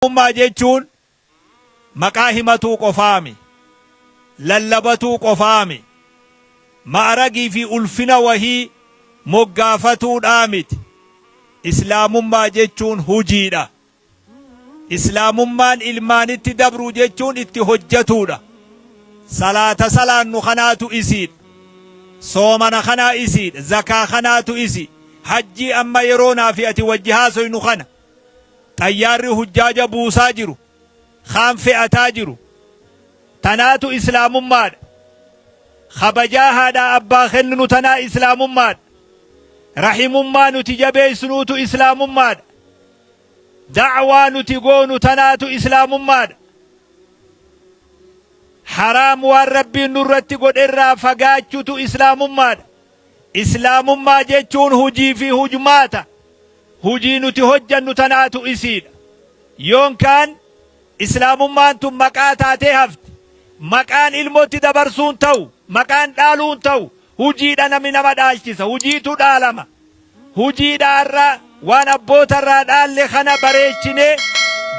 Oromummaa jechuun maqaa himatuu qofaami. Lallabatuu qofaami. Ma'aragii fi ulfina wahii moggaafatuudhaa miti. Islaamummaa jechuun hujiidha. Islaamummaan ilmaanitti dabruu jechuun itti hojjatuudha. Salaata salaannu kanaatu isiidha. Soomana kanaa isiidha. Zakaa kanaatu isi. Hajjii amma yeroo naa fi ati wajji haasoynu kana. Xayyaarri hujjaaja buusaa jiru, kaan fe'ataa jiru. Tanaatu Islaamummaadha. Khabajaa haadhaa abbaa kenninu tanaa Islaamummaadha. Rahimummaa nuti jabeessnuutu Islaamummaadha. Da'waa nuti goonu tanaatu Islaamummaadha. Haraam waan Rabbiin nurratti godherraa fagaachutu Islaamummaadha. Islaamummaa jechuun hujii fi hujmaata, hujii nuti hojjannu tanaatu isiidha. Yoon kaan Islaamummaan tun maqaa taatee hafti. Maqaan ilmotti dabarsuun tahu, maqaan dhaaluun tahu, hujiidha namni nama dhaalchisa, hujiitu dhaalama. Hujiidhaa har'a waan abboota irraa dhaalle kana bareechinee,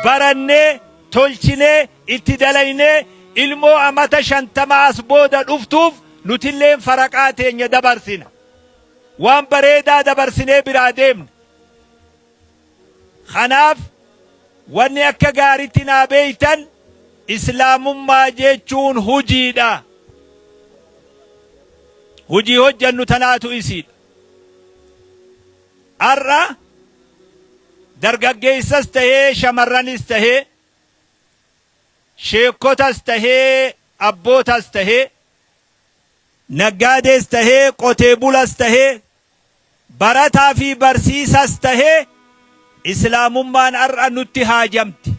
barannee, tolchinee, itti dalaynee ilmoo amata 50 as booda dhuftuuf nutilleen faraqaa teenya dabarsina. Waan bareedaa dabarsinee biraa deemna. Kanaaf wanni akka gaaritti naa beektan Islaamummaa jechuun hujiidha. Hujii hojjannu tanaatu isiidha. Har'a dargaggeessas tahee shamarranis tahee sheekkotas tahee abbootas tahee naggaadees tahee qotee bulas tahee barataa fi barsiisas tahee Islaamummaan har'a nutti haajamti.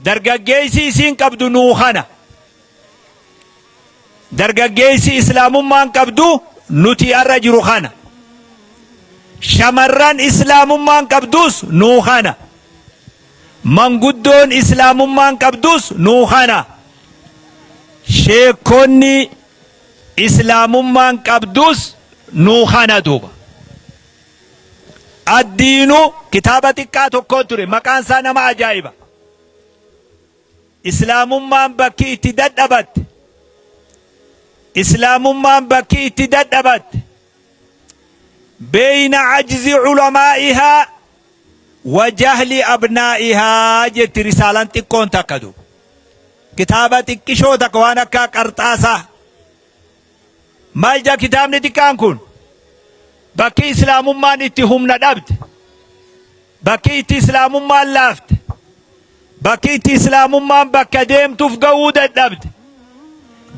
Dargaggeessi isiin qabdu nuu kana. Dargaggeessi Islaamummaan qabdu nuti har'a jiru kana. Shamarran Islaamummaan qabdus nuu kana. Manguddoon Islaamummaan qabdus nuu kana. Sheekonni Islaamummaan qabdus nuu kana duuba. Addiinu kitaaba xiqqaa tokkoo ture. Maqaan isaa nama ajaa'iba. Islaamummaan bakki itti dadhabatte. Islaamummaan bakki itti dadhabatte. Beeyna ajzi ulamaa'ihaa wa jahli abnaa'ihaa jetti risaalaan xiqqoon takka du. Kitaaba xiqqishoo takka waan akka qarxaasaa Maal jedha kitaabni xiqqaan kun? Bakki Islaamummaan itti humna dhabde, bakki itti Islaamummaan laafte, bakki itti Islaamummaan bakka deemtuuf ga'uu dadhabde,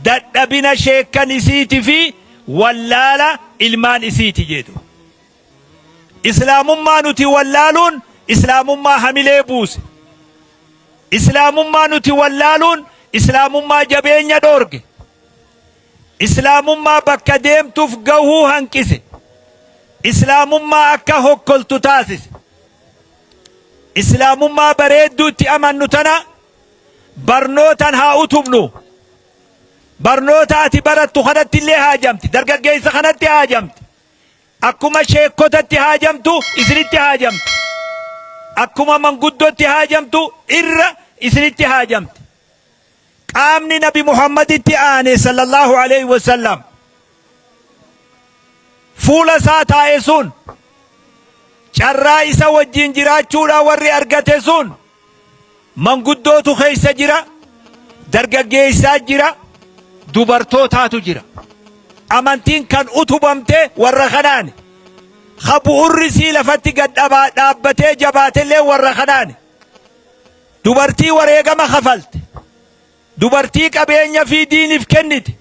dadhabina sheekkan isiiti fi wallaala ilmaan isiiti jedhu. Islaamummaa nuti wallaaluun Islaamummaa hamilee buuse. Islaamummaa nuti wallaaluun Islaamummaa jabeenya dhoorge. Islaamummaa bakka deemtuuf gahuu hanqise. Islaamummaa akka hokkoltu taasise. Islaamummaa bareedduu itti amannu tana barnootan haa utubnu. Barnoota ati barattu kanatti illee haajamti. Dargaggeessa kanatti haajamti. Akkuma sheekkotatti haajamtu isinitti haajamti. Akkuma manguddootti haajamtu irra isinitti haajamti. Qaamni Nabi Muhammaditti aane sallallahu alayhi wa sallam fuula isaa taa'e sun carraa isa wajjin jiraachuudhaa warri argate sun manguddootu keessa jira, dargaggeessaa jira, dubartootaatu jira. Amantiin kan utubamte warra kanaani. Ka bu'urri sii lafatti gad dhabaa- dhaabbatee jabaatellee warra kanaani. Dubartii wareegama kafalte. Dubartii qabeenya fi diiniif kennite.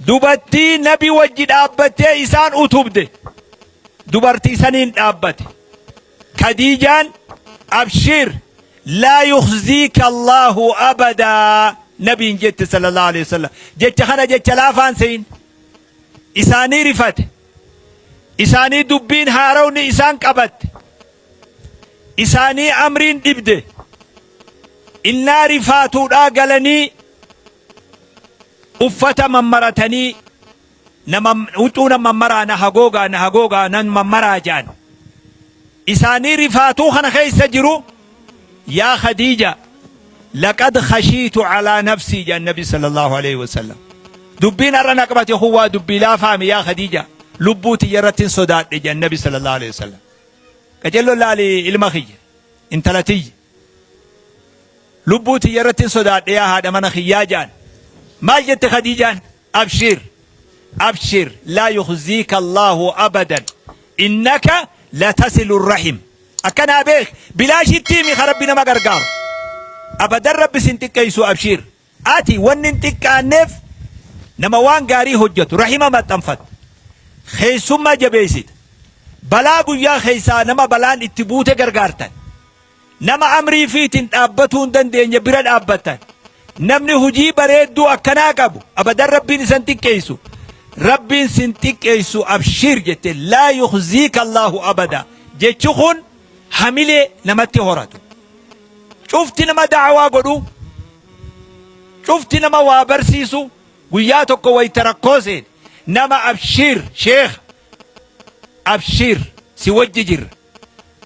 Dubartii nabi wajji dhaabbattee isaan utubde. Dubartii saniin dhaabbate. Kadiijaan abshiir laa yukhziika Allaahu abadaa nabiin jette sallallahu alaihi wasallam. Jecha kana jecha laafaan seyin. Isaanii rifate. Isaanii dubbiin haarawni isaan qabatte. isaanii amriin dhibde innaa rifaatuudhaa galanii uffata mammaratanii nama huccuu nan mammaraa na hagoogaa na hagoogaa nan mammaraa jaan isaanii rifaatuu kana keessa jiru yaa khadiija laqad khashiitu calaa nafsii jaan nabi sala allahu alaihi wasallam dubbiin har'a na qabate kun waa dubbii laafaame yaa khadiija lubbuu tiyya irrattin sodaadhe jaan nabi sala allahu alaihi wasallam Qacello laali ilma kiyya, intala tiyya. Lubbuu tiyya irrattin sodaadhe yaa haadha mana kiyyaa ja'an. Maal jette Khadiijaan? Abshiir! Abshiir! Laa yukhziika Allaahu abadan! Innaka latasilu rahim! Akkanaa beeki! Bilaashitti himi ka Rabbi nama gargaaru. Abadan Rabbi sin xiqqeeysu abshiir! Ati wanni hin xiqqaanneef nama waan gaarii hojjatu, rahima maxxanfatta, keessummaa jabeessita, balaa guyyaa keessaa nama balaan itti buute gargaartan, nama amrii fiitiin dhaabbatuu hin dandeenye bira dhaabbattan, namni hujii bareedduu akkanaa qabu abadan Rabbiin isan xiqqeessu, Rabbiin sin xiqqeessu abshiir jette laa yukhziika Allaahu abada jechi kun hamilee namatti horatu. Cufti nama da'awaa godhu, cufti nama waa barsiisu guyyaa tokko wayita rakkoo seene nama abshiir sheekha, abshiir si wajji jirra,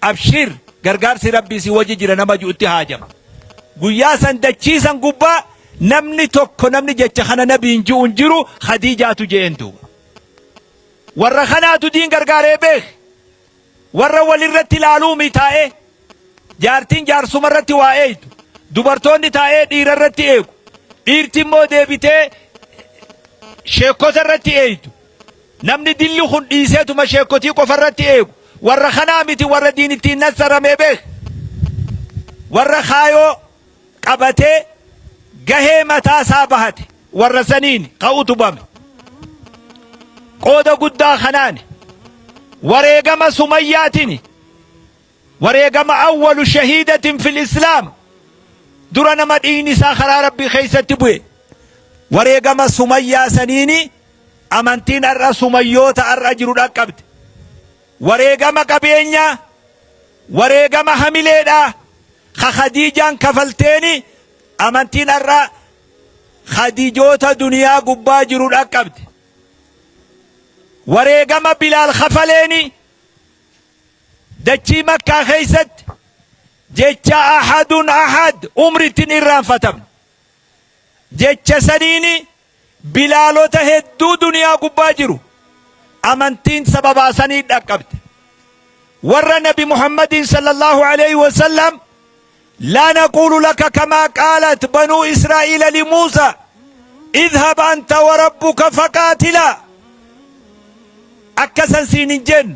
abshiir gargaarsi Rabbii si wajji jira nama ju'utti haajama. Guyyaa san dachii san gubbaa namni tokko namni jecha kana nabiin ju'u hin jiru Khadiijaatu je'een duuba. Warra kanaatu diin gargaaree beek. Warra wal irratti ilaaluumi taa'ee jaartiin jaarsuma irratti waa eeydu. Dubartoonni taa'ee dhiira irratti eegu. Dhiirti immoo deebitee sheekkota irratti eeydu. Namni dilli kun dhiiseetuma sheekkotii qofa irratti eegu. Warra kanaa miti warra diin ittiin nassaramee beek. Warra kaayoo qabatee gahee mataa isaa bahate warra saniin ka utubame. Qooda guddaa kanaan wareegama Sumayyaatiin wareegama awwalu shahiidatin fil Islaam dura nama dhiigni isaa karaa Rabbii keessatti bu'e. Wareegama Sumayyaa saniini amantiin har'a Sumayyoota har'a jiru dhaqqabde. Wareegama qabeenyaa, wareegama hamileedhaa. Ka Khadiijaan kafalteeni amantiin har'a Khadiijoota duniyaa gubbaa jiru dhaqqabde. Wareegama Bilaal kafaleeni dachii Makkaa keessatti jecha ahadun ahad umritti hin irraanfatamne. Jecha saniini Bilaalota hedduu duniyaa gubbaa jiru amantiin sababaa saniin dhaqqabde. Warra Nabi Muhammadiin sallallahu alayhi wa sallam laa naquulu laka kamaa qaalat banuu Israa'iila li Muusa idhab anta wa rabbuka faqaatilaa akkasan siin hin jennu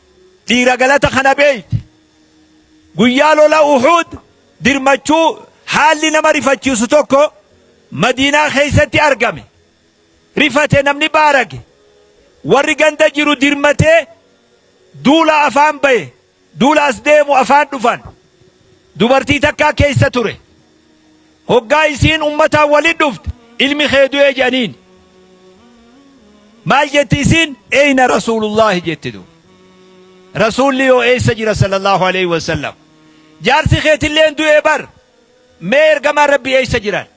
Dhiira galata kana beeyte. Guyyaa lola Uhuud dirmachuu haalli nama rifachiisu tokko Madiinaa keessatti argame. Rifate namni baarage. Warri ganda jiru dirmatee duula afaan baye. Duula as deemu afaan dhufan. Dubartii takkaa keessa ture. Hoggaa isiin ummataan walit dhufte, ilmi kee du'e je'aniin. Maal jetti isiin? Eyna Rasuulullaahi jetti duuba. Rasuulli hoo eessa jira sallallahu aleyhi wa sallam? Jaarsi keetilleen du'e bar! Mee ergamaan Rabbii eessa jiran?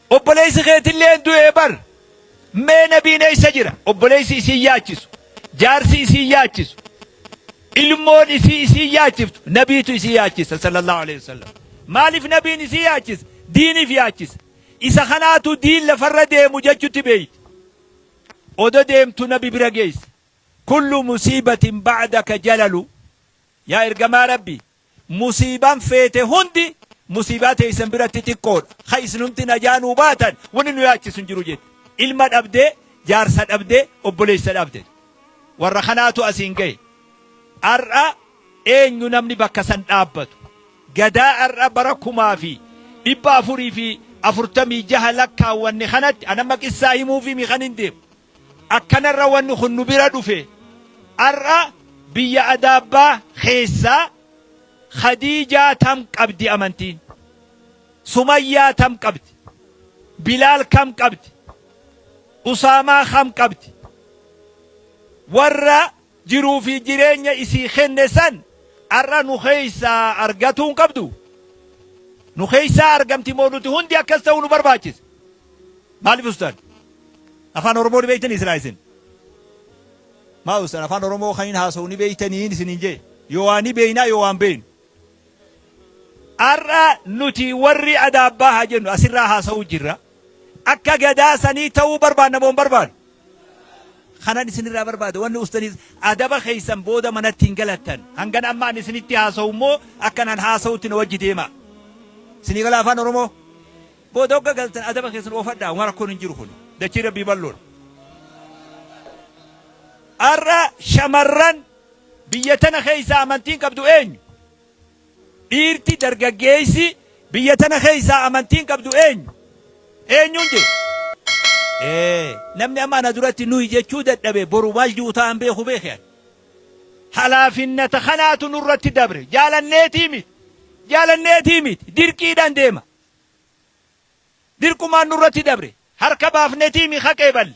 Obboleessi keetilleen du'e bar! Mee nabiin eessa jira? Obboleessi isiin yaachisu, jaarsi isiin yaachisu, ilmoon isii isiin yaachiftu nabiitu isii yaachisa sallallahu aleyhi wasallam. Maaliif nabiin isii yaachisa? Diiniif yaachisa. Isa kanaatu diin lafarra deemu jechutti beeyti. Odo deemtu nabi bira geeyse. Kullu musiibatin ba'daka jalalu. Yaa ergamaa Rabbii! Musiibaan feete hundi musiibaa teessan biratti xiqqoodha. Ka isinumti najaa nuu baatan wanni nu yaachisu hin jiru jette. Ilma dhabdee, jaarsa dhabdee, obboleessa dhabde. Warra kanaatu asiin gahe. Ar'a eenyu namni bakka san dhaabbatu? Gadaa ar'a bara 446 lakkaawwanne kanatti an amma qissaa himuufiimi kanin deemu. Akkanarra wanni kun nu bira dhufe ar'a biyya Adaabbaa keessaa Khadiijaa tam qabdi amantiin? Sumayyaa tam qabdi? Bilaal kam qabdi? Usaamaa kam qabdi? Warra Jiruu fi jireenya isii kenne san ar'a nu keessaa argatuu hin qabdu? Nu keessaa argamti moo nuti hundi akkas ta'uu nu barbaachisa? Maaliif ustaad? Afaan Oromoo ni beektanii silaa isin? Maa ustaad afaan Oromoo kan hin haasawu ni beektanii isiniin jee? Yoo waan ni beeknaa yoo waan beeknu. Har'a nuti warri Adaabbaa haa jennu asirraa haasa'uu jirra. Akka gadaa sanii ta'uu barbaanna moo hin barbaannu? Kanan isinirraa barbaadu wanni ustanis adaba keessan booda manatti hin galattan. Hangan amma ani isinitti haasa'u immoo akkan an haasa'utti na wajji deema. Isinii gala afaan Oromoo? Booda hogga galtan adaba keessan oofadhaa waan rakkoon hin jiru kun. Dachii rabbii bal'oodha. Har'a shamarran Biyya tana keessaa amantiin qabdu eenyu? Dhiirti, dargaggeessi, biyya tana keessaa amantiin qabdu eenyu? Eenyuun jedhu? Ee, namni amma ana duratti nuyi jechuu dadhabe boru maal ji'u ta'an beeku beeke ani. Halaafinnata kanaatu nurratti dabre. Jaalanneetii miti. Jaalanneetii miti. Dirqiidhaan deema. Dirqumaan nurratti dabre. Harka baafnetii mi ka qeeballe.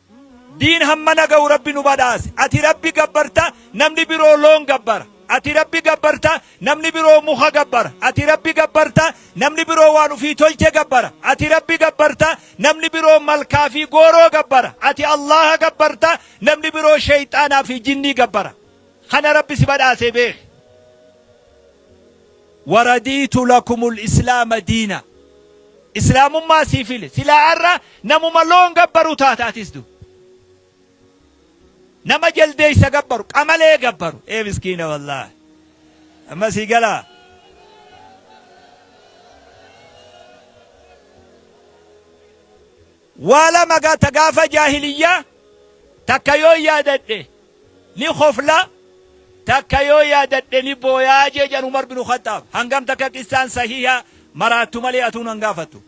Diin hammana ga'u Rabbi nu badhaase. Ati Rabbi gabbarta, namni biroo loon gabbara. Ati Rabbi gabbarta, namni biroo muka gabbara. Ati Rabbi gabbarta, namni biroo waan ufii tolche gabbara. Ati Rabbi gabbarta, namni biroo malkaa fi gooroo gabbara. Ati Allaaha gabbarta, namni biroo sheyxaanaa fi jinnii gabbara. Kana Rabbi si badhaasee beeki. Waradiitu lakumul islaama diina Islaamummaa sii file silaa arra namuma loon gabbaru taata atis du Nama jaldeeysa gabbaru qamalee gabbaru ee miskiina wallaahi Amma sii galaa Waa lama ga ta gaafa jaahiliyyaa takka yoon yaadadhe ni kofla takka yoo yaadadhe ni booya jee jedhan Umar binu Khaxxaab. Hangam takka qissaan sahiiha maraattu malee atuu nan gaafattu.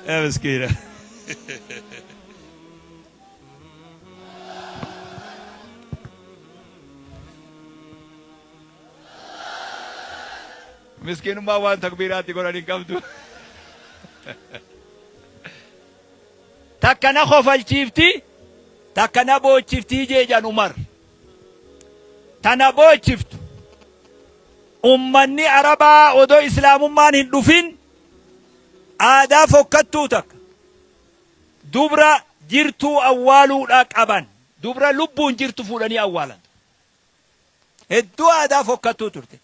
Yaa miskiina. Miskiinummaan waan takbiiraa itti godhan hin qabdu. Takka na kofalchiifti, takka na boochiftii jeejan Umar. Tana boochiftu. Ummanni Arabaa odoo Islaamummaan hin dhufin aadaa fokkattuu takka. Dubra jirtuu awwaaluudha qaban. Dubra lubbuun jirtu fuudhanii awwaalan. Hedduu aadaa fokkattuu turte.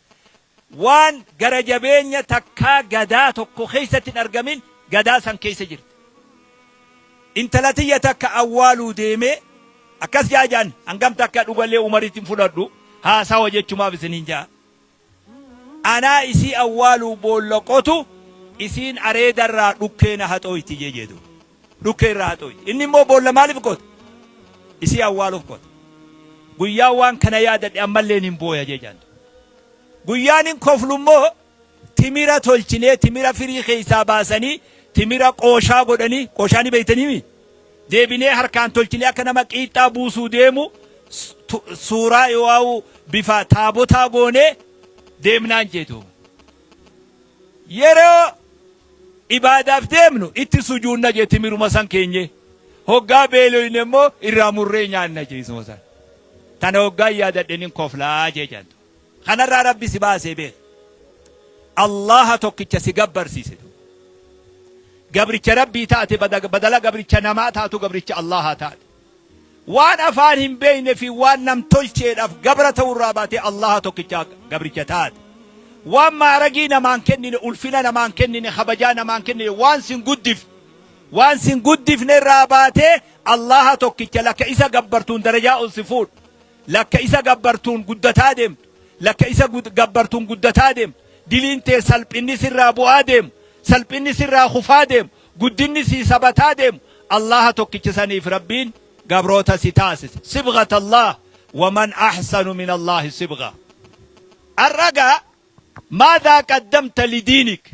Waan gara jabeenya takkaa gadaa tokko keessatti hin argamin gadaa san keessa jirti. Intala tiyya takka awwaaluu deemee akkas jaajaan hangam takka dhugallee Umaritti hin fudhadhu haasawa jechumaaf isiniin jaa. Anaa isii awwaaluu boolla qotu, isiin areeda irraa dhukkee na haxooyti jee jee duuba. Dhukkee irraa haxooyti. Inni immoo boolla maaliif qota? Isii awwaaluuf qota. Guyyaan waan kana yaadadhe ammalleen hin booya jee jaan duuba. Guyyaan hin koflu immoo timira tolchinee, timira firii keessaa baasanii, timira qooshaa godhanii, qooshaa ni beektanii mii? Deebinee harkaan tolchinee akka nama qiixxaa buusuu deemu suuraa yooaa'u bifa taabotaa goonee deemnaan jee duuba. Yeroo ibaadaaf deemnu itti sujuunna jee timiruma san keenyee. Hoggaa beeloyne immoo irraa murree nyaanna jee isuma san. Tana hoggaan yaadadhe nin koflaa jee jaantu. Kanarraa Rabbi si baasee beeki. Allaaha tokkicha si gabbarsiise. Gabricha Rabbii taate bada- badala gabricha namaa taatu gabricha Allaahaa taate. Waan afaan hin beekne fi waan nam tolcheedhaaf gabra ta'urraa baatee Allaaha tokkicha gabricha taate. Waan maaragii namaan kennine, ulfina namaan kennine, kabajaa namaan kennine, waan sin guddif. Waan sin guddifne irraa baatee Allaaha tokkicha lakka isa gabbartuun darajaa ol si fuudhu. Lakka isa gabbartuun guddataa deemtu, lakka isa gabbartuun guddataa deemtu, diliin tee salphinni sirraa bu'aa deemu, salphinni sirraa kufaa deemu, guddinni sii sabataa deemu, Allaaha tokkicha saniif Rabbiin gabroota si taasise. Sibghata Allaah, wa man ahsanu min Allaahi sibghaa. Ar'a gaa maadhaa qaddamta lidiinik?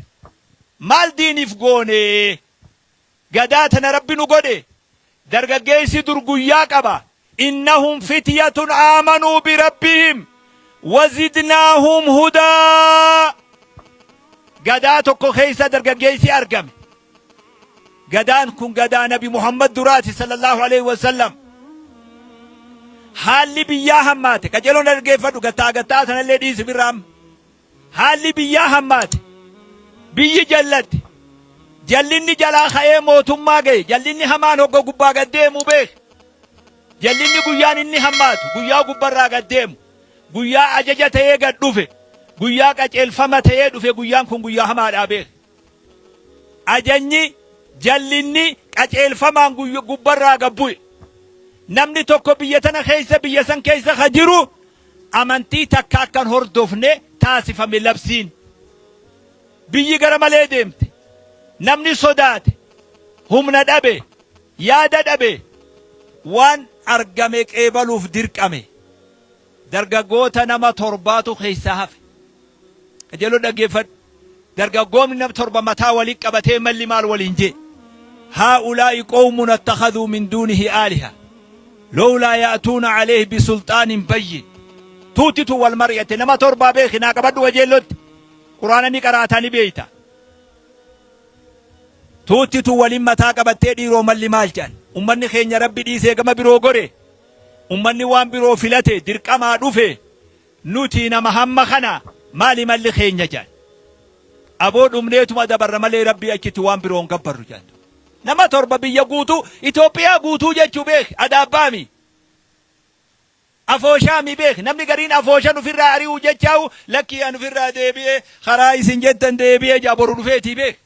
Maal diiniif goonee? Gadaa tana rabbi nu godhe dargaggeessi dur guyyaa qaba innahum fityatun aamanuu birabbihim wazidnaahum hudaa gadaa tokko keessa dargaggeessi argame gadaan kun gadaa nabi muhammad duraati sallallahu alaihi wasallam haalli biyyaa hammaate qajeeloon dhaggeeffadhu gattaa gattaa tanallee dhiisi birraam Haalli biyyaa hammaate. Biyyi jallatte. Jallinni jalaa ka'ee mootummaa ga'e. Jallinni hamaan hogga gubbaa gad deemu beeki. Jallinni guyyaan inni hammaatu guyyaa gubbarraa gad deemu, guyyaa ajaja ta'ee gad dhufe, guyyaa qaceelfama ta'ee dhufe guyyaan kun guyyaa hamaadhaa beeki. Ajajni, jallinni, qaceelfamaan guyya gubbarraa gad bu'e. Namni tokko biyya tana keessa biyya san keessa ka jiru amantii takka akka hin hordofne taasifame labsiin. Biyyi gara malee deemte. Namni sodaate. Humna dhabe. Yaada dhabe. Waan argame qeebaluuf dirqame. Dargaggoota nama torbaatu keessaa hafe. Qajeeloo dhaggeeffadhu. Dargaggoomni nam torba mataa wali qabatee malli maal waliin jee. Haa'ulaa'i qowmun attakhadhuu min duunihi aaliha. Lowlaa ya'tuuna aleeyhi bisulxaanin bayyin. Tuutti tun wal mari'atte. Nama torbaa beeki naa qabadhu qajeellootti. Quraana ni qaraataa ni beeyta. Tuutti tun waliin mataa qabattee dhiiroo malli maal jedhan. Ummanni keenya rabbi dhiisee gama biroo gore. Ummanni waan biroo filate dirqamaa dhufe. Nuti nama hamma kana maali malli keenya jedhan. Aboo dhumneetuma dabarra malee Rabbii achitti waan biroo hin gabbarru jedhan duuba. Nama torba biyya guutuu, Itoophiyaa guutuu jechuu beeki, Adaabbaami, Afooshaami beeki. Namni gariin Afooshan ufirraa ari'uu jechaahu lakkii an ufirraa deebi'ee karaa isin jettan deebi'ee jedha boru dhufeetii beeki.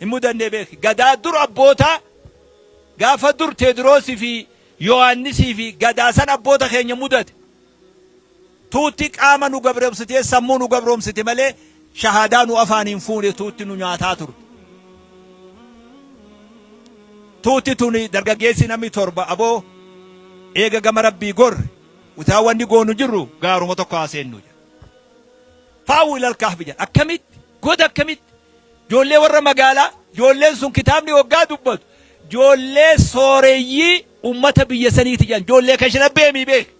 hin mudanne beeki. Gadaa dur abboota gaafa dur Teediroos fi Yohaannisii fi gadaa san abboota keenya mudate. Tuutti qaama nu gabromsitee sammuu nu gabromsite malee shahaadaa nu afaaniin fuune tuutti nu nyaataa turte. Tuutti tuni dargaggeessi namni torba aboo eega gama rabbii gorre utaa wanni goonu jirru gaaruma tokko haa seennu jedha. Faawu ilal kahfi jedha. Akkamitti? Goda akkamitti? Ijoollee warra magaalaa, ijoolleen sun kitaabni hoggaa dubbatu ijoollee sooreyyii ummata biyya saniiti jedhan. Ijoollee kashinabbee mii beeki.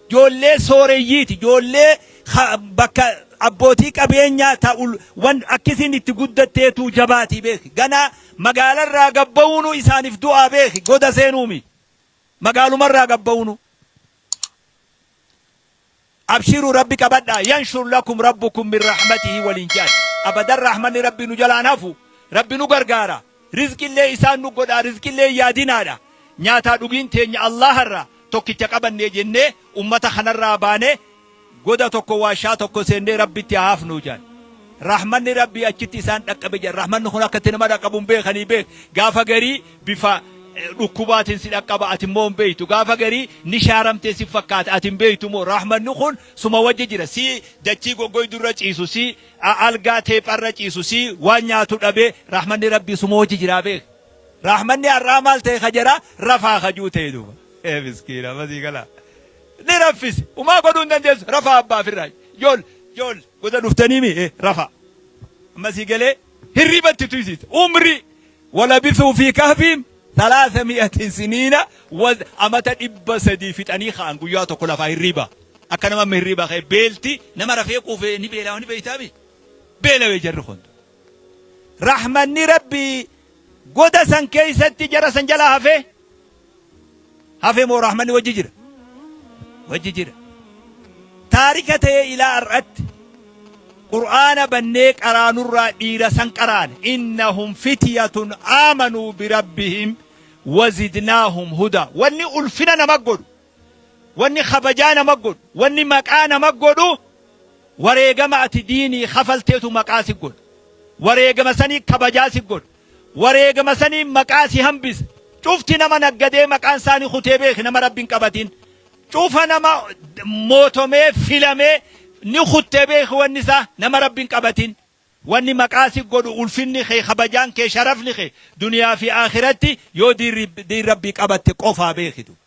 Ijoollee sooreyyiiti. Ijoollee ka- bakka abbootii qabeenyaa ta ul- wan akkisiin itti guddatteetu jabaatii beeki. Ganaa magaalarraa gabba'uunu isaaniif du'aa beeki. Goda seenuumi. Magaalumarraa gabba'uunu. Abshiru rabbi qabadha yanshur lakum rabbukum min rahmatihi waliin je'an. Abadan rahmanni rabbii nu jalaa hin hafu. Rabbi nu gargaara. Rizqillee isaan nu godha rizqillee hin yaadinaadha. Nyaataa dhugiin teenya Allaaha irraa tokkicha qabanne jennee ummata kanarraa baanee goda tokko waashaa tokko seennee rabbitti haa hafnu je'an. Rahmanni rabbii achitti isaan dhaqqabe je'an. Rahmanni kun akka itti nama dhaqqabu hin beekanii beek. Gaafa garii bifa dhukkubaatiin si dhaqqaba ati immoo hin beektu gaafa garii ni shaaramtee si fakkaata ati hin beektu immoo rahmanni kun suma wajji jira si dachii goggoydu irra ciisu si algaa teepha irra ciisu si waan nyaatu dhabe rahmanni rabbii suma wajji jira beek rahmanni har'aa maal ta'e ka jara rafaa kajuu ta'e duuba ee miskiina masii galaa ni raffise umaa godhuu hin dandeessu rafaa abbaa firraa jool jool gosa dhuftanii mi rafaa masii galee Hirriba itti tuysiisa. Umrii walabisuu fi kahfiin salaasa mi'atin siniina waz amata dhibba sadii fixanii ka'an guyyaa tokko lafaa hirriba. Akka nama amma hirriba ka'e beelti nama rafee quufee ni beelaa ni beeytaami. Beelawee jarri kun. Rahmanni rabbii Goda san keessatti jara san jalaa hafee hafe moo rahmanni wajji jira? Wajji jira. Taarika ta'ee ilaa har'atti Qur'aana bannee qaraanurraa dhiira san qaraane innahum fityatun aamanuu birabbihim wazidnaahum hudaa wanni ulfina nama godhu Wanni kabajaa nama godhu, wanni maqaa nama godhu wareegama ati diinii kafalteetu maqaa si godha. Wareegama sanii kabajaa si godha. Wareegama sanii maqaa si hambisa. Cufti nama naggadee maqaan saanii kutee beeki nama rabbi hin qabatin. Cufa nama mootomee filamee ni kuttee beeki wanni isaa nama rabbi hin qabatin. Wanni maqaa si godhu ulfinni kee kabajaan kee sharafni kee duniyaa fi akhiratti yoo diin rabbii qabatte qofaa beeki duuba.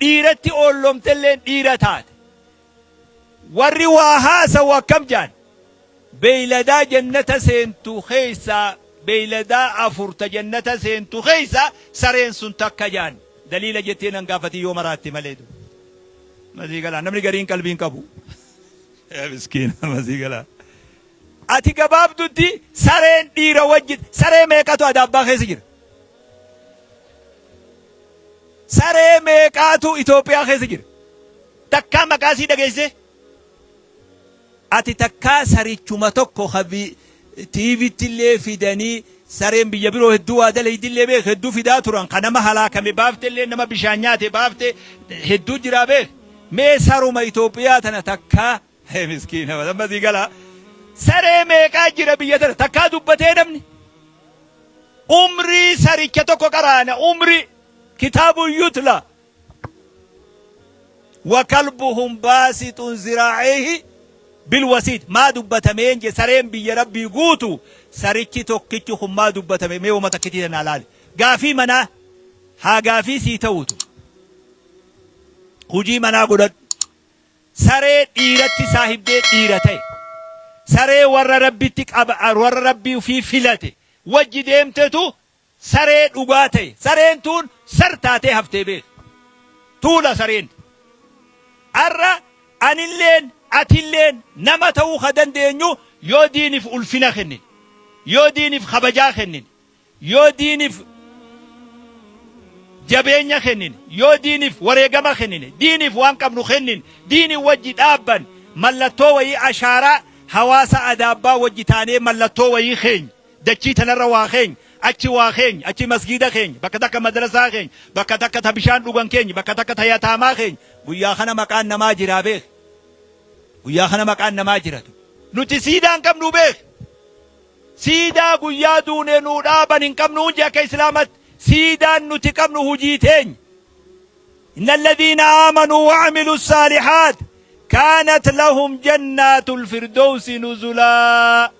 dhiiratti oolloomtelleen dhiira taate. Warri waa haasawu akkam jaan? Beeyladaa jannata seentu keessaa beeyladaa afur ta jannata seentu keessaa sareen sun takka jaan. Daliila jettee nan gaafatin yoo maraatte malee du. Masii galaa namni gariin qalbii hin qabu. Yaa miskiina masii galaa. Ati gabaabdutti sareen dhiira wajjin saree meeqatu adaabbaa keessa jira? Saree meeqaatu Itoophiyaa keessa jira? Takkaa maqaa isii dhageessee? Ati takkaa sarichuma tokko ka TVtti illee fidanii sareen biyya biroo hedduu waa dalaydi illee beek hedduu fidaa turan ka nama halaakame baafte illee nama bishaan nyaate baafte hedduu jiraa beek mee saruma Itoophiyaa tana takkaa Hee miskiina amma sii gala. Saree meeqaa jira biyya tana takkaa dubbatee namni. Umrii saricha tokko qaraana umrii kitaabu yutla. Wakalbuhum baasixun ziraa'ihi bilwasiid maa dubbatameen je sareen biyya rabbii guutu sarichi tokkichi kun maa dubbatame mee wama takkitii tanaa laali. Gaafii manaa haa gaafii sii ta'uutu. Hujii manaa godhadhu. Saree dhiiratti saahibdee dhiira ta'e. Saree warra Rabbitti qab warra Rabbii ufii filate wajji deemtetu saree dhugaa ta'e. Sareen tuun sar taatee haftee beekh. Tuula sareen tun. Ar'a anilleen atilleen nama ta'uu ka dandeenyu yoo diinif ulfina kennine, yoo diinif kabajaa kennine, Yoo diinif jabeenya kennine, yoo diinif wareegama kennine, diinif waan qabnu kennine, diini wajji dhaabban mallattoo wayii ashaaraa hawaasa Adaabbaa wajji taanee mallattoo wayii keenya, dachii tanarra waa keenya, achi waa keenya, achi masgiida keenya, bakka takka madrasaa keenya, bakka takka ta bishaan dhugan keenya, bakka takka ta yataamaa keenya, guyyaa kana maqaan namaa jiraa beekhi. Guyyaa kana maqaan namaa jira. Nuti siidaa hin qabnu beekhi. Siidaa guyyaa duune nuu dhaaban hin qabnu huji akka islaamatti siidaan nuti qabnu hujii teenya Inna alladhiina aamanuu wa amilu saalihaat kaanat lahum jannaatul firdowsi nuzulaa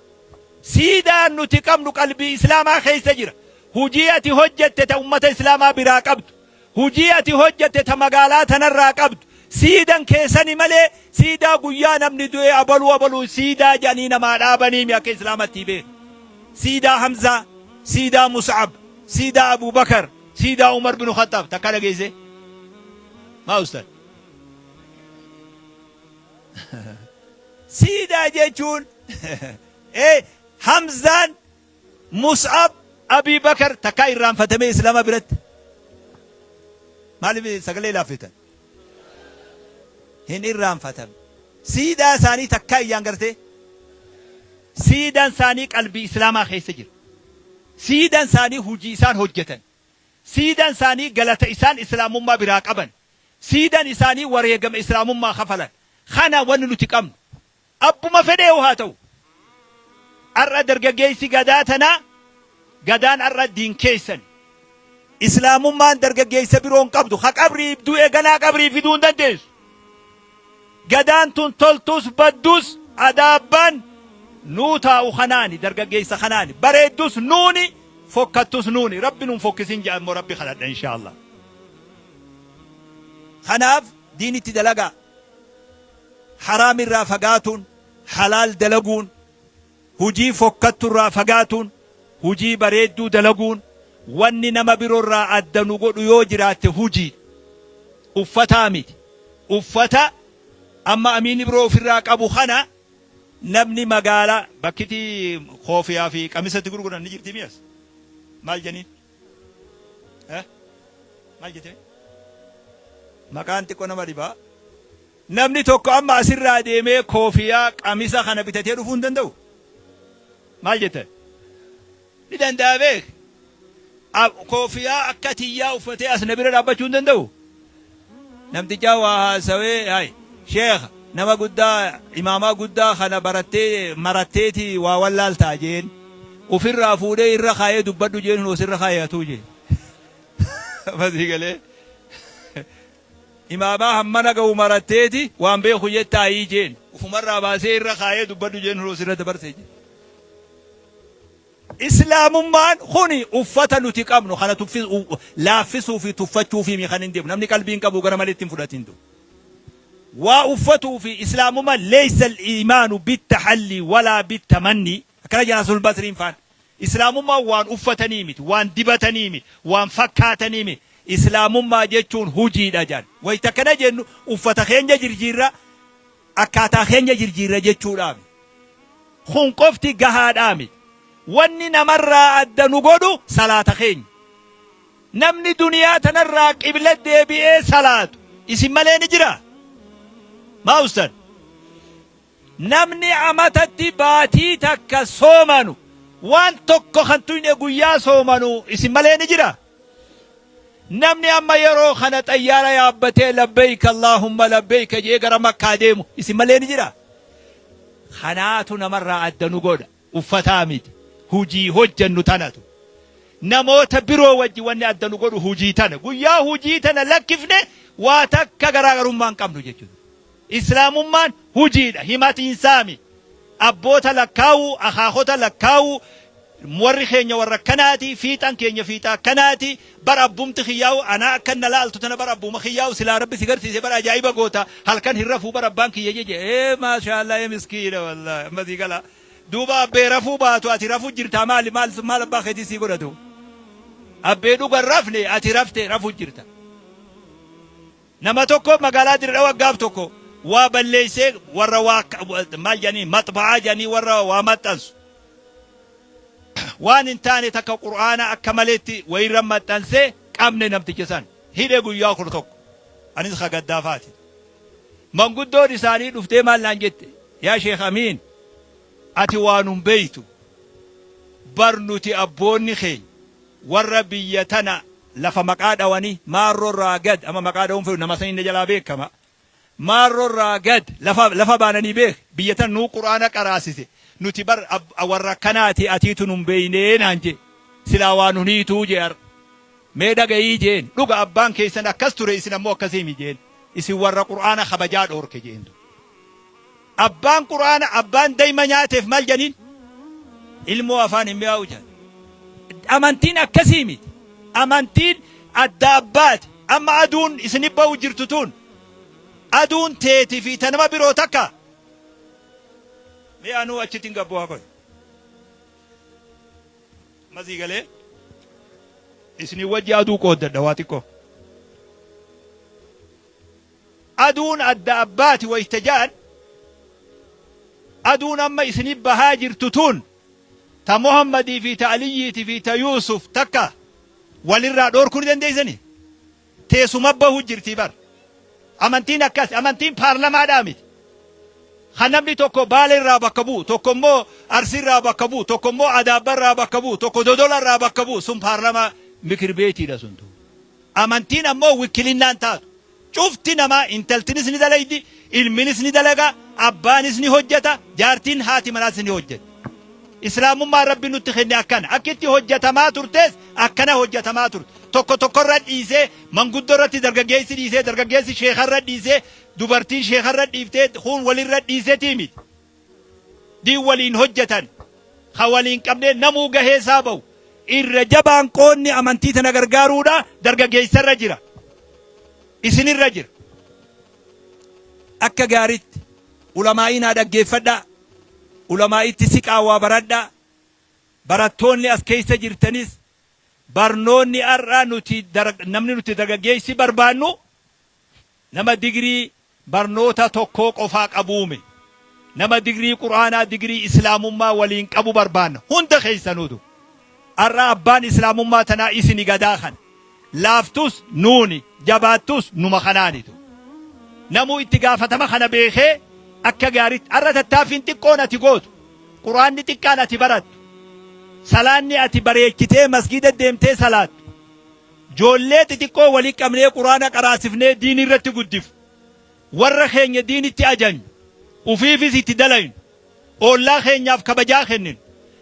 siidaan nuti qabnu qalbii islaamaa keessa jira hujii ati hojjatte ta ummata islaamaa biraa qabdu Hujii ati hojjatte ta magaalaa tanarraa qabdu, siidan kee sani malee, siidaa guyyaa namni du'ee abaluu abaluu siidaa jedhanii namaa dhaabaniimi akka islaamattii beektu. Siidaa Hamzaa, siidaa Mus'ab, siidaa Abuu Bakar, siidaa Umar binu Khaxxaab takkaa dhageessee? Maa ustaaz? Siidaa jechuun ee Hamzaan Mus'ab Abii Bakar takkaa irraanfatamee Islaama biratti maaliif sagalee laaffiftan? Hin irraanfatamne. Siidaa isaanii takkaa iyyaan gartee siidan isaanii qalbii Islaamaa keessa jira. Siidan isaanii hujii isaan hojjetan. Siidan isaanii galata isaan Islaamummaa biraa qaban. Siidan isaanii wareegama Islaamummaa kafalan. Kana wanni nuti qabnu. Abbuma fedheehu haa ta'u, ar'a dargaggeessi Gadaa tanaa, Gadaan ar'a diin keessan. Islaamummaan dargaggeessa biroo hin qabdu, ka qabrii ibduu eeganaa qabrii fiduu hin dandeessu. Gadaan tun toltus baddus adaa abbaan nuu taa'u kanaani, dargaggeessa kanaani. Bareeddus nuuni, fokkattus nuuni. Rabbi nu hin fokkisin jedha immoo Rabbi kadhadha inshaa Allaah. Kanaaf diinitti dalagaa. Haraam irraa fagaatuun, halaal dalaguun, hujii fokkattu irraa fagaatuun, hujii bareedduu dalaguun, wanni nama biro irraa adda nu godhu yoo jiraatte hujiidha. Uffataa miti. Uffata amma Amiin Ibroo uf irraa qabu kana namni magaalaa, bakkiti koofiyaa fi qamisa itti gurguran ni jirti mi as? Maal janiin? Eh? Maal jetee? Maqaan xiqqoo nama dhibaa. Namni tokko amma asirraa deemee koofiyaa qamisa kana bitatee dhufuu hin danda'u. Maal jettan? Ni danda'a beek. Ab- Koofiyaa akka tiyyaa uffatee as na bira dhaabbachuu hin danda'u. Namtichaa waa haasawee hay sheekha nama guddaa imaamaa guddaa kana barattee maratteeti waa wallaaltaa jeen ufirraa fuudhee irra kaayee dubbadhu jeen hin osirra kaayatuu jee fasii galee imaamaa hammana ga'u maratteeti waan beeku jettaayii jeen ufumarraa baasee irra kaayee dubbadhu jeen hin osirra dabarse jee Islaamummaan kuni uffata nuti qabnu kana tuffi laaffisuu fi tuffachuufii mii kan hin deemu namni qalbii hin qabu gara malee itti hin fudhatin du waa uffatuu fi islaamumma leysa al-iimaanu bit-tahallii walaa bit-tamannii akkana jedha Hasanul Basriin faan islaamummaan waan uffatanii miti waan dibatanii miti waan fakkaatanii miti islaamummaa jechuun hujiidha jedhan wayta akkana jennu uffata keenya jirjiirra Akkaataa keenya jirjiirra jechuudhaa miti. Kun qofti gahaadhaa miti. Wanni namarraa adda nu godhu salaata keenya. Namni duniyaa tanarraa qibla deebi'ee salaatu isin malee ni jiraa? Maa ustaz? Namni amatatti baatii takka soomanu waan tokko kan tuyne guyyaa soomanu isin malee ni jiraa? Namni amma yeroo kana xayyaara yaabbatee labbeeyka Allaahumma labbeeyka je'ee gara Makkaa deemu isin malee ni jiraa? Kanaatu namarraa adda nu godha. Uffataa miti. Hujii hojjannu tanatu. Namoota biroo wajji wanni adda nu godhu hujii tana. Guyyaa hujii tana lakkifne waa takka garaagarummaa hin qabnu jechuudha. Islaamummaan hujiidha, himatiin saami. Abboota lakkaa'u, akaakota lakkaa'u, warri keenya warra akkanaati, fiixan keenya fiixa akkanaati, bar abbumti kiyyaa'u anaa akkan na laaltu tana bar abbuuma kiyyaa'u silaa rabbi si garsiise bar ajaa'iba goota, halkan hin rafuu bar abbaan kiyya jeje ee maashaallah ee miskiina wallahi amma sii gala. Duuba abbee rafuu baatu ati rafu jirtaa maali maal maal abbaa keetii sii godhatu. Abbee dhuga hin rafne ati rafte rafu jirta. Nama tokko magaalaa Dire Dhawa gaaf tokko waa balleessee warra waa maal jedhanii maxba'aa jedhanii warra waa maxxansu waan hin taane takka qur'aana akka maleetti wayirra maxxanse qabne namticha san hidhe guyyaa kudha tokko anis ka gaddaafaati manguddoon isaanii dhuftee maal naan jette yaa sheekh amiin ati waan hin beeytu bar nuti abboonni keenya Warra biyya tana lafa maqaa dhawani maarro irraa gad ama maqaa dhawun fedhu nama sani na jalaa beekama maarro irraa gad lafa lafa baanani beek biyya tana nuu qur'aana qaraasise nuti bar warra akkanaati atiitu nun beeyne naan jee silaa waa nun hiituu jee har'a mee dhagayii jeen dhuga abbaan keeysan akkas ture isin ammoo akkasii mi jeen isin warra qur'aana kabajaa dhoorke jeen duba Abbaan qur'aana abbaan dayma nyaateef maal janiin? Ilmoo afaan hin mi'aawu jedhan. Amantiin akkasii miti. Amantiin adda abbaati. Amma aduun isinif ba'u jirtu tun aduun teeti fi ta nama biroo takka? Mee anuu achitti hin gabbu haa koy. Masii galee isinii wajji aduu qooddadha waa xiqqoo. Aduun adda abbaati wayta ja'an, aduun amma isiniif bahaa jirtu tun ta Muhammadii fi ta Aliyyiiti fi ta Yuusuf takka wal irraa dhoorkuu ni dandeessanii? Teessuma bahuu jirtii bar. Amantiin akkasi. Amantiin paarlamaadhaa miti. Kan namni tokko Baale irraa bakka bu'u, tokko immoo Arsii irraa bakka bu'u, tokko immoo Adaabba irraa bakka bu'u, tokko Dodola irraa bakka bu'u sun paarlamaa mikir beetiidha sun tun. Amantiin ammoo wikkilinnaan taatu. Cufti namaa, intaltinis ni dalaydi, ilminis ni dalaga, abbaanis ni hojjata, jaartiin, haati manaas ni hojjatti. Islaamummaan Rabbiin nutti kenne akkana. Akki itti hojjatamaa turtes akkana hojjatamaa turte. Tokko tokkorra dhiisee, manguddoorratti dargaggeessi dhiisee, dargaggeessi sheekharra dhiisee, dubartiin sheekharra dhiiftee, kuun walirra dhiisetii miti. diin waliin hojjatan ka waliin qabnee namuu gahee isaa bahu. Irra jabaan qoodni amantii tana gargaaruudha dargaggeessa irra jira. Isin irra jira. Akka gaaritti ulamaa'ii naa dhaggeeffadhaa. Ulamaa'itti siqaa waa baradhaa. Barattoonni as keessa jirtanis barnoonni har'aa nuti namni nuti dargaggeessi barbaannu Nama digrii barnoota tokkoo qofaa qabuume? Nama digrii qur'aanaa digrii islaamummaa waliin qabu barbaanna hunda keessanuutu. Ar'a abbaan islaamummaa tanaa isini gadaa kana. Laaftus nuuni jabaattus numa kanaanitu. Namuu itti gaafatama kana beekee akka gaaritti ar'a tattaaffiin xiqqoon ati gootu, qur'aanni xiqqaan ati barattu, salaanni ati bareechitee masgiida deemtee salaattu, Joollee xixiqqoo wali qabnee quraana qaraasifnee diin irratti guddifnu, warra keenya diinitti ajajnu, ufiifis itti dalaynu, oollaa keenyaaf kabajaa kenninu,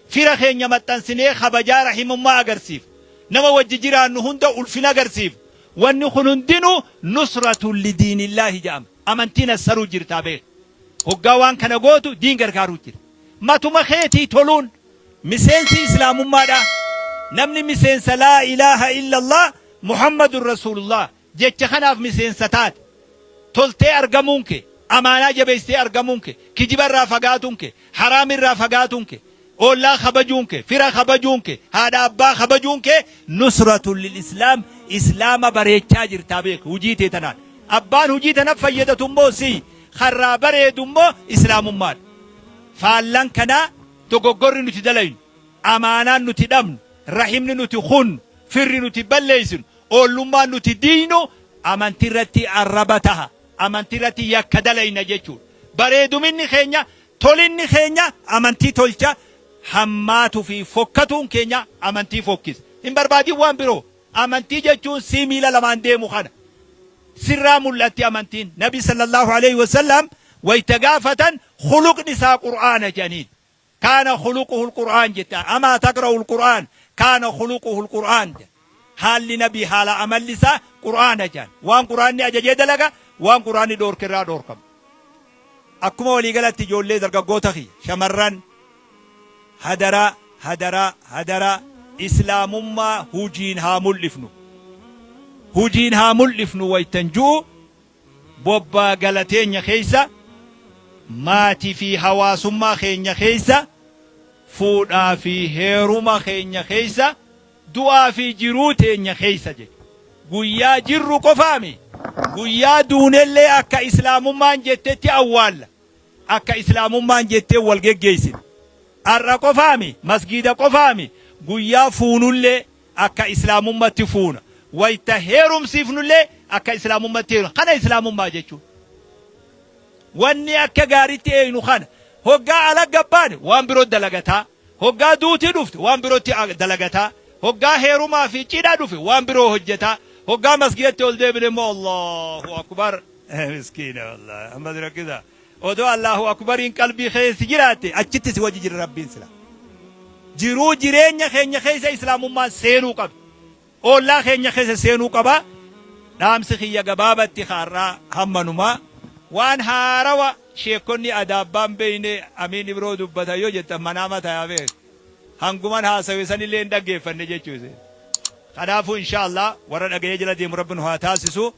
fira keenya maxxansinee kabajaa rahimummaa agarsiifnu, nama wajji jiraannu hunda ulfina agarsiifnu, wanni kun hundinu nusratun lidiinillaahi ja'ama. Amantiin assaruu jirtaa beeki. Hoggaa waan kana gootu diin gargaaruu jirta. Matuma keetii toluun. Miseensi Islaamummaadhaa namni miseensa Laa ilaaha illallah Muhammadun Rasuulullah jecha kanaaf miseensa taate, toltee argamuun kee, amaanaa jabeessitee argamuun kee, kijiba irraa fagaatuun kee, haraam irraa fagaatuun kee, oollaa kabajuun kee, fira kabajuun kee, haadha abbaa kabajuun kee nusratun lil islaam, Islaama bareechaa jirtaa beeki hujii tee tanaan. Abbaan hujii tanaf fayyadatu immoo siy, ka irraa bareedu immoo Islaamummaadha. Faallaan kanaa dogoggorri nuti dalaynu, amaanaan nuti dhabnu, rahimni nuti kunnu, firri nuti balleessinu, oollummaan nuti diiynu amantii irratti arraba taha, amantii irratti yakka dalayna jechuudha. Bareeduminni keenya, tolinni keenya amantii tolcha, hammaatu fi fokkatuun keenya amantii fokkisa. Hin barbaadin waan biroo. Amantii jechuun sii miila lamaan deemu kana. Sirraa mul'atti amantiin. Nabi sallallahu aleyhi wa sallam wayta gaafatan Khuluqni isaa Qur'aana jedhaniin. Kaana khuluquhul Qur'aan jette. Amaa taqra'ul Qur'aan kaana khuluquhul Qur'aan jedhan. Haalli Nabii haala amalli isaa Qur'aana jedhan. Waan Qur'aanni ajaje dalaga, waan Qur'aanni dhoorke irraa dhoorkama. Akkuma walii galatti ijoollee dargaggoota kiyya, shamarran, hadaraa, hadaraa, hadaraa Islaamummaa hujiin haa mul'ifnu. Hujiin haa mul'ifnu waytan ju'u, Bobbaa gala teenya keessa, maati fi hawaasummaa keenya keessa, fuudhaa fi heeruma keenya keessa, du'aa fi jiruu teenya keessa jedhe. Guyyaa jirru qofaa mi? Guyyaa duunellee akka Islaamummaan jettetti awwaalla. Akka Islaamummaan jettee wal geggeessina. Har'a qofaa mi? Masgiida qofaa mi? Guyyaa fuunullee, Akka islaamummatti fuuna. Wayta heerumsiifnullee akka islaamummatti heerumna. Kana islaamummaa jechuun. Wanni akka gaaritti eeynu kana. Hoggaa alagga baane waan biro dalagataa. Hoggaa duuti dhufte waan birotti dalagataa. Hoggaa heerumaa fi cidha dhufe waan biroo hojjataa. Hoggaa masgidatti ol deebine immoo Allaahu akbar. Miskiina wallahi. Ammas rakkisaa. Odoo Allaahu Akubariin qalbii keessa jiraatte achitti si wajji jira Rabbiin sila. Jiruu jireenya keenya keessa Islaamummaan seenuu qabdi. Oollaa keenya keessa seenuu qaba. Dhaamsi kiyya gabaabatti ka har'aa hammanuma. Waan haarawa sheekkonni adaabbaan beeyne Amiin Ibroo dubbatan yoo jettan manaama tayaa beeka. Hanguman haasawe sanillee hin dhaggeeffanne jechuu isheeti. Kanaafuu inshaa Allaah warra dhagayee jala deemu Rabbi nu haa taasisu.